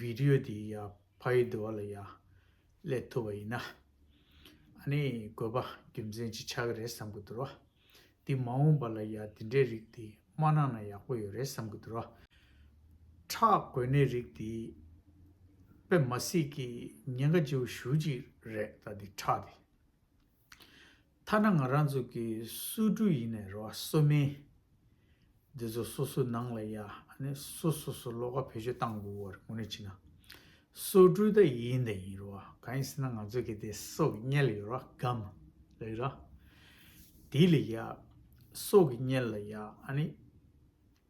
Video དེ་ཡ་ཕ་ཡི་འདུལ་བ་ལ་ཡ་ཀླད་ཐུབ་པ་ཡིན་ན་ཨ་ནི་དགོས་པ་རྒྱུ་མཚན་ཅིག་ཆགས་ཀྱི་རེད་བསམ་གྱི་འདུར་བ་འདི་མ་འོངས་པ་ལ་ཡ་འདི་འདྲའི་རིགས་དེ་མ་གནང་ན་ཡག་པོ་ཡོད་རེད་བསམ་གྱི་འདུར་བ་ཁྲག་དགོས་ནའི་རིགས་དེ་པད་མ་སྲིད་ཀྱི་ཉེན་ཁ་ལྕི་བོ་ཞུ་ཅིག་རེད་ད་འདི་ཁྲག་དེ། ཐ་ན་ང་རང་ཚོ་གི་སུ་སྤྲུལ་ཡིན་ནས་རོ་སོ་མིན། འདི་ཚོ་སོ་སོའི་ནང་ལ་ཡ་ནི་སོ་སོ་སོ་ལོག་ཀ་བེད་སྤྱོད་བཏང་དགོས་བར་དགོངས་ནས་ཕྱིན་ན། སོ་སྤྲུལ་ད་ཡིན་ད་ཡིན་རོ་གང་ཡིན་ཟེར་ན་ང་ཚོ་གི་དེ་སོ་གི་གཉལ་ཡོད་རོ་སྒམ་ལ་ཡོད་རོ། དེ་ལ་ཡ། སོ་གི་གཉལ་ལ་ཡ་ཨ་ནི།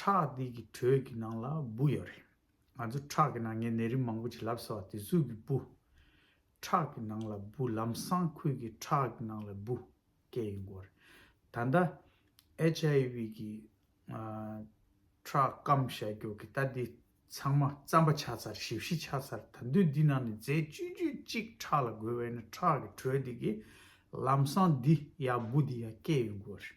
ཁྲག་འདི་གི་དྲོད་ཀྱི་ནང་ལ་སྦུ་ཡོད་རེད། ང་ཚོ་ཁྲག་གི་ནང་ངས་ནད་རིགས་མང་པོ་ཞིག་ལབ་ཟེར་བ་དེ་གཟུགས་ཀྱི་སྦུ། ཁྲག་གི་ནང་ལ་སྦུ་ལམ་སང་ཁུལ་གྱི་ཁྲག་གི་ནང་ལ་སྦུ་སྐད་ཡིན་དགོས་རེད། ད་ལྟ HIV གི་ཁྲག་སྐམ་བྱ་རྒྱུ་གི་ལྟ་འདི་ཚང་མ་རྩམ་པ་ཆགས་ཚར་ཞིབ་བཤིར་ཆགས་ཚར་ད་འདོད་འདི་ནང་ནས་རྫས་བཅུད་བཅུད་གཅིག་ཁྲག་ལ་དགོས་བས་ན་ཁྲག་གི་དྲོད་འདི་གི་ལམ་སང་འདི་ཡ་སྦུ་འདི་ཡ་སྐད་ཡིན་དགོས་རེད།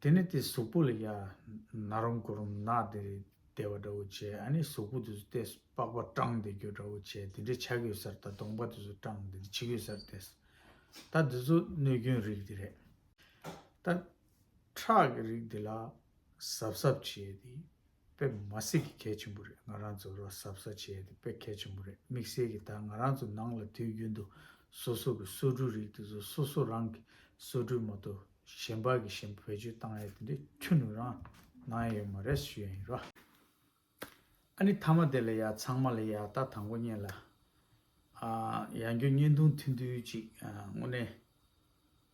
དེ་ནས་དེ་གཟུགས་པོ་ལ་ཡནག་རུམ་དགུ་རུམ་ནག་དེ་རེ་བདེ་བ་འདྲ་བོ་བྱས་ཨ་ནི་གཟུགས་པོ་དེ་ཚོ་ལྟས་སུ་པགས་པ་སྐྲངས་དེ་གྱོད་འདྲ་བོ་བྱས་དེ་འདྲའི་ཆ་གྱོད་སར་ད་གདོང་པ་དེ་ཚོ་སྐྲངས་དེ་འདྲ་ཕྱི་གྱོད་སར་ལྟས། ད་དེ་ཚོ་གནོད་སྐྱོན་རིགས་དེ་རེད། ད། ཁྲག་གི་རིགས་དེ་ལ་གཟབ་གཟབ་བྱས་དེ། དཔེ་མ་བསྲེས་ཀྱི་གལ་ཆེན་པོ་རེད་ང་རང་ཚོ་རོ་གསར་བསྲེས་བྱས་ཏེ་དཔེ་གལ་ཆེན་པོ་རེད་དམིགས་བསལ་གྱི་ད་ང་རང་ཚོ་ནང་ལ་དུས་རྒྱུན་དུ་སོ་སོ་གི་སོ་གྲུའི་རིགས་དེ་ཚོ་སོ་སོ་རང་གི་སོ་གྲུའི་མོ་ཏོ་གཞན་པ་གི་བཞིན་བེད་སྤྱོད་བཏང་ཡས་དེ་འདྲའི་ཁྱུ་ནུ་རང་ནང་ཡས་ཡོད་མ་རེད་ཞུ་ཡས་ཡིན་ར། ཨ་ནི་ཐ་མ་དེ་ལ་ཡག་ཚང་མ་ལ་ཡག་ད་དང་པོ་གཉེན་ལ་ཡག་འགྱོ་གཉེན་དུང་མཐུན་དུས་གཅིག་དངོས་གནས།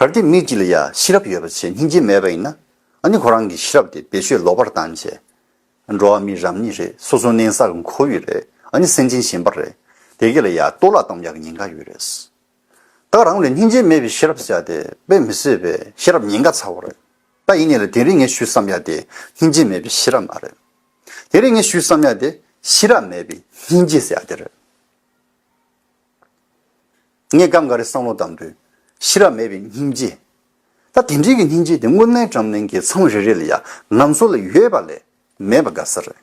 གར་དེ་མི་གཅིག་ལ་ཡང་ཤེས་རབ་ཡོད་པ་བྱས་སྙིང་རྗེ་མེད་པ་ཡིན་ན་ནི་ཁོ་རང་གི་ཤེས་རབ་དེ་བེད་སྤྱོད་ལོག་པར་བཏང་བྱས། འགྲོ་བ་མི་རབས་གཉིས་རེད་སོ་སོ་གནས་ས་གི་འཁོར་ཡུག་རེད་ནི་སེམས་ཅན་གཞན་པ་རེད་དེ་གི་ལ་ཡང་གཏོར་བརླག་གཏོང་རྒྱག་གི་ཉེན་ཁ་ཡོད་རེད། ད་རང་ལ་སྙིང་རྗེ་མེད་པའི་ཤེས་རབ་བྱས་དེ་དཔེ་མི་སྲིད་པའི་ཤེས་རབ་ཉེན་ཁ་ཚ་བོ་རེད། ད་ཡིན་ནས་ལ་དེ་རིང་ངས་ཞུས་བསམ་ཡག་དེ་སྙིང་རྗེ་མེད་པའི་ཤེས་རབ་མ་རེད། དེ་རིང་ངས་ཞུས་བསམ་ཡག་དེ་ཤེས་རབ་མེད་པའི་སྙིང་རྗེ་ཟེར་ཡག་དེ་རེད། ངས་སྐབས་འགའ་རེ་བསམ་བློ་བཏང་དུས། ཤེས་རབ་མེད་པའི་སྙིང་རྗེ། ད་དེ་འདྲིའི་སྙིང་རྗེ་དེ་དངོས་གནས་འགྲམ་གླིང་གི་མཚམས་རེ་རེ་ལ་ཡང་ང་ཚོ་ལ་ཡོད་པ་ལས་མེད་པ་དགའ་ས་རེད།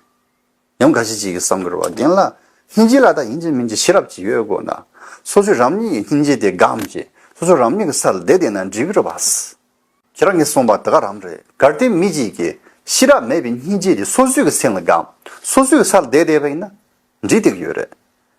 ཡང་འགའ་ཞིག་ཅིག་གིས་བསམ་དགོས་བ་རྒན་ལགས་སྙིང་རྗེ་ལ་ད་ཡིན་གཅིག་མིན་གཅིག་ཤེས་རབ་ཅིག་ཡོད་དགོས་ན། སོ་སོས་རང་ཉིད་ཀྱི་སྙིང་རྗེ་དེ་སྒམ་གྱིས་སོ་སོ་རང་ཉིད་ཀྱི་སར་བསྡད་བསྡད་ན་འགྲིག་ར་བས། ཁྱེད་རང་གིས་གསུངས་པ་དེ་ག་རང་རེད་གལ་ཏེ་མི་གཅིག་གིས་ཤེས་རབ་མེད་པའི་སྙིང་རྗེ་དེ་སོ་སོའི་གི་སེམས་ལ་སྒམ་སོ་སོའི་གི་སར་བསྡད་བསྡད་པ་ཡིན་ན་འགྲིག་སྡིག་ཡོད་རེད།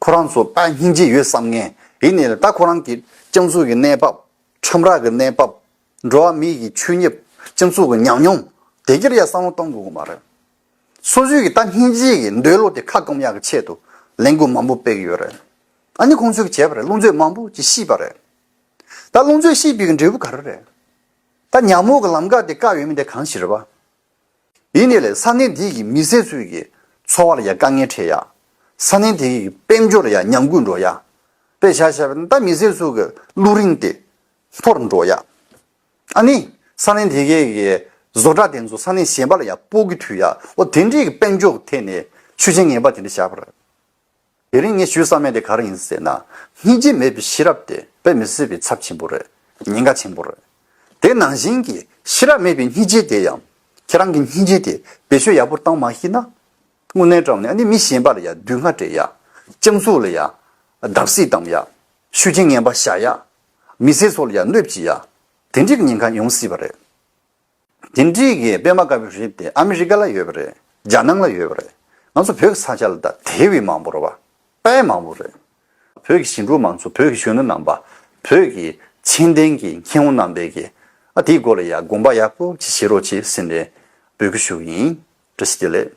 ཁོ་རང་ཚོ་ད་སྙིང་རྗེ་ཡོད་བསམ་ངེས་ཡིན་ནི་རེད་ད་ཁོ་རང་གི་སྤྱང་ཚུགས་ཀྱི་གནས་བབ། ཁྲོམ་ར་གི་གནས་བབ། འགྲོ་བ་མིའི་གི་ཆུད་ཉེབ་སྤྱང་ཚུགས་ཀྱི་ཉམས་མྱོང་དེ་གྱིར་ཡ་བསམ་བློ་གཏོང་དགོས་གི་མ་རེད། སོ་སོའི་གི་ད་སྙིང་རྗེ་གི་འདོད་བློ་དེ་ཁ་སྐོམ་ཡག་གི་ཆེད་དུ་ལས་འགུལ་མང་པོ་སྤེལ་གི་ཡོད་རེད། ཨ་ནི་ཁོང་ཚོའི་གི་བྱས་པ་རེད་རླུང་རྫོས་མང་པོ་གི་ཤི་བ་རེད། ད་རླུང་རྫོས་ཤི་བའི་གི་འབྲས་བུ་ག་རེ་རེད། ད་ཉམས་འོག་གི་ལམ་ཀ་དེ་བཀག་ཡོད་མིན་དེ་གང་ཞིག་རེད་བ། ཡིན་ནི་ལས་ས་གནས་དེ་གི་མི་སེར་ཚོའི་གི་འཚོ་བ་ལ་ཡང་དཀའ་ངལ་འཕྲད་ཡ། ས་གནས་དེ་གི་གི་དཔལ་འབྱོར་ལ་ཡང་ཉམས་རྒུད་འགྲོ་ཡ། དཔེ་བྱ་བྱས་པ་ནི་ད་མི་སེར་ཚོའི་གི་གླུ་རིན་དེ་འཐོར་འགྲོ་ཡ། ཨ་ནི་ས་གནས་དེ་གའི་གི་བཟོ་གྲྭ་དེ་ཚོ་ས་གནས་གཞན་པ་ལ་ཡང་སྤོ་གི་ཐུག་ཡ་འོ་དེ་འདྲའི་གི་དཔལ་འབྱོར་གི་ཐད་ནས་ཆུ་ཆེན་ངན་པ་དེ་འདྲ་བྱ་བར། དེ་རིང་ངས་ཞུས་བསམ་ཡས་དེ་ག་རེ་ཡིན་ཟེར་ན། སྙིང་རྗེ་མེད་པའི་ཤེས་རབ་དེ་དཔེ་མི་སྲིད་པའི་ཚབས་ཆེན་པོ་རེད། ཉེན་ཁ་ཆེན་པོ་རེད། དེ་ནང་བཞིན་གྱི་ཤེས་རབ་མེད་པའི་སྙིང་རྗེ་དེ་ཡང། ཁྱེད་རང་གི་སྙིང་རྗེ་དེ་བེད་སྤྱོད་ཡག་པོར་བཏང་མ་ཤེས་ན། དངོས་གནས་བཀྲམ་ནས་ཨ་ནི་མི་གཞན་པ་ལ་ཡང་སྡུག་བསྔལ་སྤྲད་ཡག། སྤྱང་ཚུགས་ལ་ཡང་བརྡབ་གསིག་གཏམ་ཡག། ཤུགས་རྐྱེན་ངན་པ་བཞག་ཡག། མི་ཟས་ཚོ་ལ་ཡང་གནོད་བགྱིད་ཡག། དེ་འདྲའི་ཉེན་ཁ་ཡོང་སྲིད་པ་རེད། འདི་འདྲི་གི་དཔེ་མ་དཀར་པོའི་རིགས་དེ་ཨ་མི་རི་ཀ་ལ་ཡོད་པ་རེད་རྒྱ་ནང་ལ་ཡོད་པ་རེད་ང་ཚོ་བོད་ཀྱི་ས་ཆ་ལ་ད་དེ་བས་མང་པོ་རེད་བ་དཔེ་མང་པོ་རེད། བོད་ཀྱི་ཞིང་འབྲོག་མང་ཚོགས་བོད་ཀྱི་གཞོན་ནུ་རྣམས་པ་བོད་ཀྱི་མཁྱེན་ལྡན་གྱི་མཁས་དབང་རྣམས་པས་ཀྱི་ཨ་དེའི་སྐོར་ལ་ཡང་དགོངས་པ་ཡག་པོ་ཅིག་བཞེས་རོགས་ཅིག་སེམས་ནས་འབོད་སྐུལ་ཞུ་གི་ཡིན་བཀྲ་ཤིས་བདེ་ལེགས།